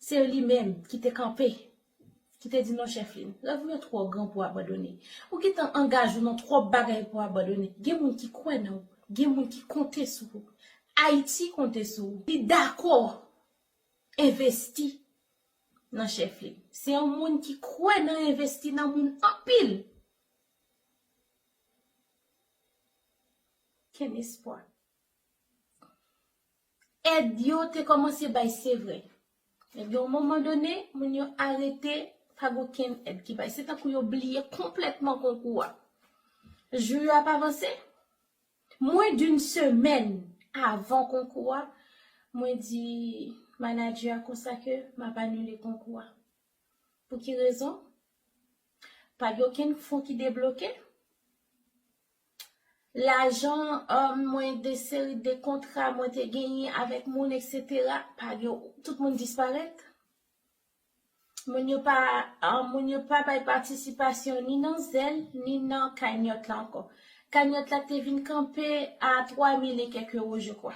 Se li menm ki te kanpe, ki te di non Chèflin, rèv ou yo twò gran pou abandone. Ou gentan angaje ou nan twòp bagay pou abandone. Gen moun ki kwè nan ou, gen moun ki konte sou ou. Ayiti konte sou ou. Li dakò envesti nan Chèflin. Se yon moun ki kwè nan envesti nan moun anpil. Kenn espwa. Èd yo te kòmanse bay se vre, men gen yon moman done moun yo arete pa gen okenn èd ki bay. Se tankou yo bliye konplètman konkou a. Jou yo ap avanse, mwen d'une semèn avan konkou a, mwen di manadjè a konsa ke m ap anile konkou a. Pou ki rezon? Pa gen okenn fon ki debloke. Lajan um mwen de seri de kontra mwen te genyen avèk moun etc pa gen tout moun disparèt. Moun yo pa um, moun yo pa bay patisipasyon ni nan zèl ni nan kanyòt la ankò. Kanyòt la te vin kanpe a 3000 e kèk euro je kwa.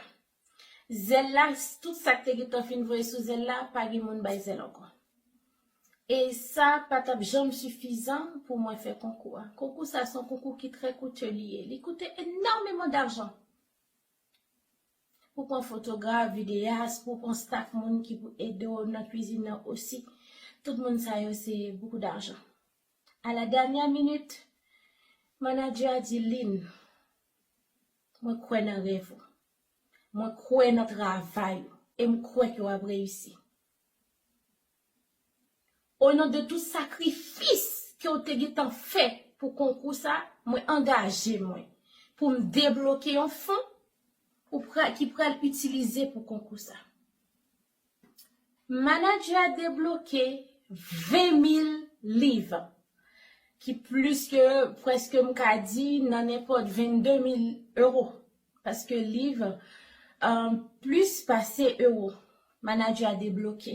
Zèl la, tout sa k te gen tan fin voye sou zèl la, pa gen moun bay zèl ankò. E sa pa t ap janm sifizan pou mwen fè konkou a. Konkou sa a se yon konkou ki trè koute li ye. Li koute enòmeman dajan. Pou pran fotograf, videyas, pou pran staf moun ki pou ede w nan kuizin nan osi. Tout moun sa yo se bokou dajan. A la dènyè minit, manadjè a di Lynn, Mwen kwè nan rèv ou. Mwen kwè nan travay ou e m kwè ke w ap reyisi. O non de tout sakrifis ke w te gentan fè pou konkou sa, mwen angaje mwen pou m debloke yon fon ou pral ki pral itilize pou konkou sa. Manager a debloke 20 mil liv, ki plis ke preske m ka di nan nenpòt 22 mil euro, paske liv plis pase euro. Manager a debloke.